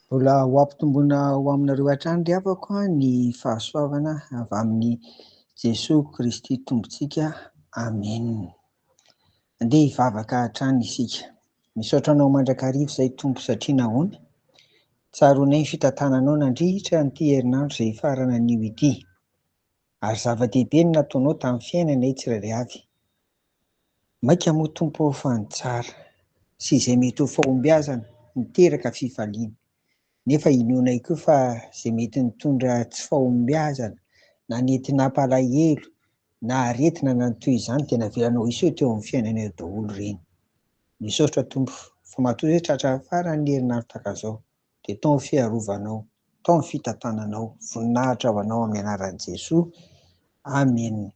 Mbola ho ampitomboina ho aminareo hatrany ry havako ny fahasoavana avy amin'i Jesoa Kristy Tompontsika. Amen. Andeha hivavaka hatrany isika. Misaotra anao mandrakariva izay Tompo satria nahoana? Tsaroanay ny fitantananao nandritra an'ity herinandro izay hifarana anio ity. Ary zava-dehibe no nataonao tamin'ny fiainanay tsirairay avy. Mainka moa Tompo ô fa ny tsara, sy izay mety ho fahombiazana, miteraka fifaliana. Nefa inoanay koa fa izay mety nitondra tsy fahombiazana, na nety nampalahelo, na aretina na ny toy izany dia navelanao hiseho teo amin'ny fiainanay eo daholo ireny. Misaotra Tompo, fa matoa izay tratra farany ny herinaratra takazao. dia tao ny fiarovanao, tao ny fitantananao, voninahitra ho anao amin'ny anaran'i Jesoa, Amen.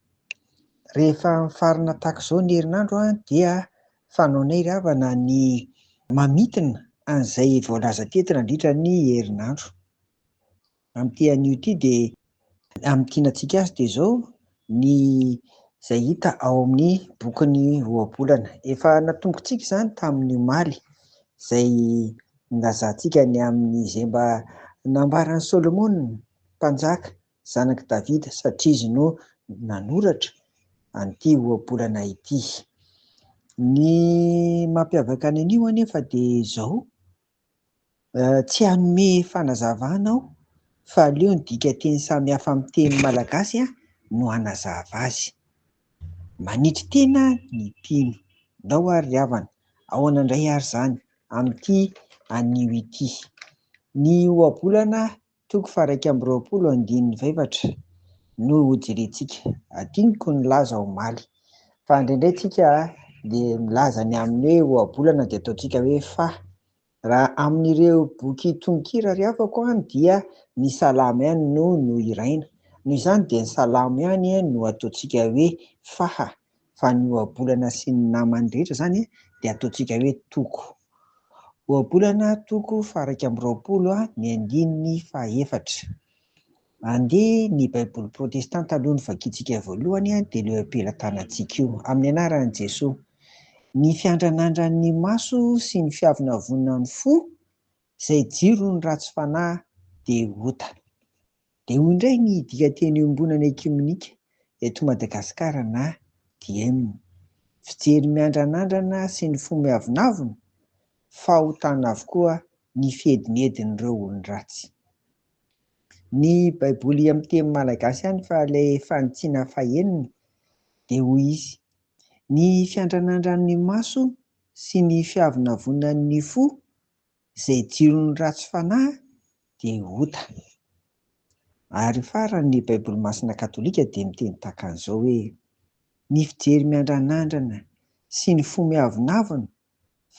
Rehefa mifarina tahaka izao ny herinandro an, dia fanaonay ry havana ny mamintina an'izay voalaza teto nandritra ny herinandro. Amin'ity anio ity dia amin'ny tianantsika azy dia izao ny izay hita ao amin'ny bokin'ny Ohabolana. Efa natombokantsika izany tamin'ny omaly izay nilazantsika ny amin'ny izay mba nambaran'i Solomona mpanjaka zanak'i Davida satria izy no nanoratra an'ity Ohabolana ity. Ny mampiavaka ny anio anefa dia izao Tsy hanome fanazavana aho fa aleo ny dikateny samihafa amin'ny teny malagasy no hanazava azy. Manitry tena ny mpino. Ndao ary ry havana, ahoana indray ary izany amin'ity anio ity? Ny ohabolana Toko faha-iraika amby roapolo andininy faha-efatra no hojerentsika. Hadinoko nilaza omaly fa indraindray tsika dia milaza ny amin'ny hoe ohabolana dia ataontsika hoe fa. Raha amin'ireo boky tononkira ry havako an dia ny salamo ihany no nohiraina. Noho izany dia ny salamo ihany no ataontsika hoe faha. fa ny ohabolana sy ny namany rehetra izany dia ataontsika hoe toko. Ohabolana toko faha-iraika amby roapolo ny andininy faha-efatra. Andeha ny Baiboly protestanta aloha no vakintsika voalohany dia ilay am-pelatanantsika io. Amin'ny anaran'i Jesoa. Ny fiandranandran'ny maso sy ny fiavonavonan'ny fo, izay jiro ny ratsy fanahy dia ota. Dia hoy indray ny dikanteny Iombonana Ekiomenika eto Madagasikara na Diem, Fijery miandranandrana sy ny fo miavonavona, fahotana avokoa ny fiedinedin'ireo olon-dratsy. Ny baiboly amin'ny teny malagasy ihany fa ilay fanitsiana fahenina dia hoy izy, Ny fiandranandran'ny maso sy ny fiavonavonan'ny fo Izay jiron'ny ratsy fanahy dia ota. Ary farany ny Baiboly Masina Katolika dia miteny tahaka an'izao hoe, Ny fijery miandranandrana sy ny fo miavonavona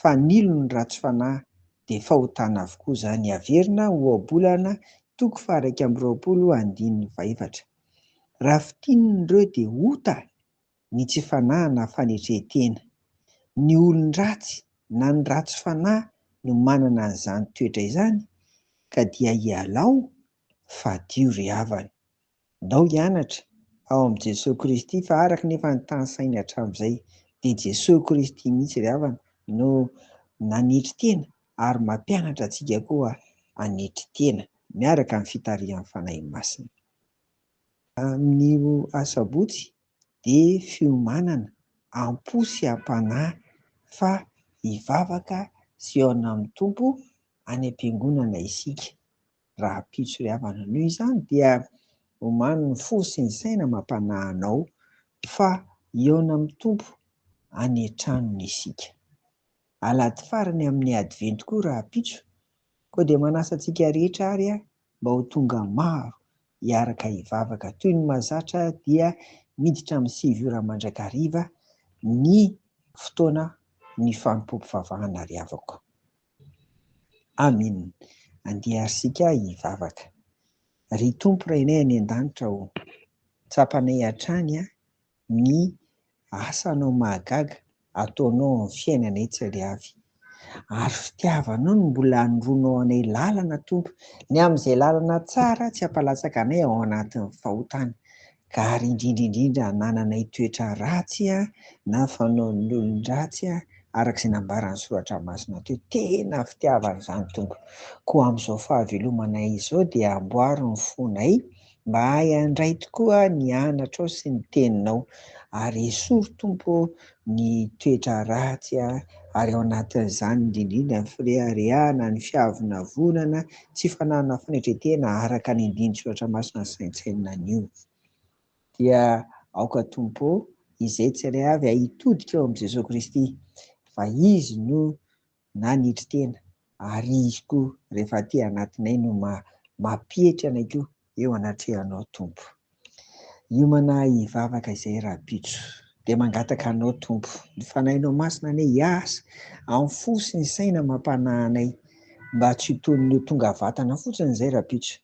fanilo ny ratsy fanahy dia fahotana avokoa izany averina ho Ohabolana toko faha-iraika amby roapolo andininy fahefatra. Raha fintinina ireo dia ota ny tsy fanahy na fanetren-tena. Ny olon-dratsy na ny ratsy fanahy no manana an'izany toetra izany ka dia ialao fadio ry havana. Ndao hianatra ao amin'i Jesoa Kristy fa araka ny efa notanisainy hatramin'izay dia Jesoa Kristy mihitsy ry havana no nanetry tena ary mampianatra antsika koa hanetry tena miaraka amin'ny fitarihan'ny Fanahy Masina. Amin'io Asabotsy dia fiomanana am-po sy am-panahy fa hivavaka sy hihaona amin'ny Tompo any am-piangonana isika. Raha pitso ry havana anio izany dia omano ny fo sy ny saina amam-panahy anao fa hihaona amin'ny Tompo any an-tranony isika. Alahady farany amin'ny Advento koa rahampitso Koa dia manasa antsika rehetra ary aho mba ho tonga maro hiaraka hivavaka. Toy ny mahazatra dia miditra amin'ny sivy ora mandrakariva ny fotoana ny fanompoam-pivavahana ry havako. Amin. Andeha ary isika hivavaka. Ry Tompo Rainay any An-danitra ô, tsapanay hatrany ny asanao mahagaga ataonao amin'ny fiainanay tsy ariavy ary fitiavanao no mbola anoroanao anay lalana Tompo ny amin'izay lalana tsara tsy hampalatsaka anay ao anatin'ny fahotana ka ary indrindra indrindra hanananay toetra ratsy na fanaon'ny olon-dratsy araka izay nambaran'ny soratra masina teo tena fitiavana izany Tompo koa amin'izao fahavelomanay izao dia amboaro ny fonay Mba ahy handray tokoa ny anatrao sy ny teninao ary esory Tompo ô ny toetra ratsy ary ao anatin'izany indrindrindra ny fireharehana, ny fiavonavonana, tsy fananana fanetren-tena araka ny andinin-tsoratra masina ny saintsainina anio. Dia aoka Tompo ô izay tsirairay avy hitodika eo amin'i Jesoa Kristy fa Izy no nanetry tena ary izy koa rehefa aty anatinay no mampietry anay koa eo anatrehanao Tompo. Hiomana hivavaka izay rahampitso dia mangataka anao Tompo ny Fanahinao Masina anie hiasa amin'ny fo sy ny saina amam-panahy anay mba tsy ho toy ny ho tonga vatana fotsiny izay rahampitso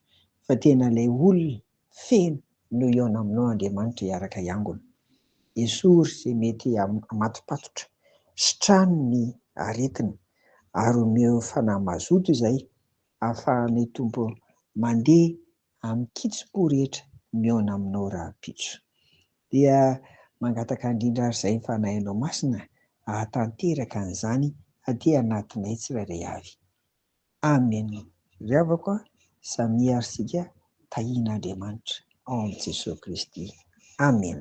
fa tena ilay olona feno no eo naminao Andriamanitra hiaraka hiangona. Esory izay mety hamatopatotra, sitrano ny aretina ary omeo fanahy mazoto izay ahafahanay Tompo mandeha amin'ny kitsim-po rehetra mihaona aminao rahampitso. Dia mangataka indrindra ary izay Fanahinao Masina hahatanteraka an'izany aty anatinay tsirairay avy. Amen ry havako a, samia ary sika tahin' Andriamanitra ao am Jesoa Kristy Amen.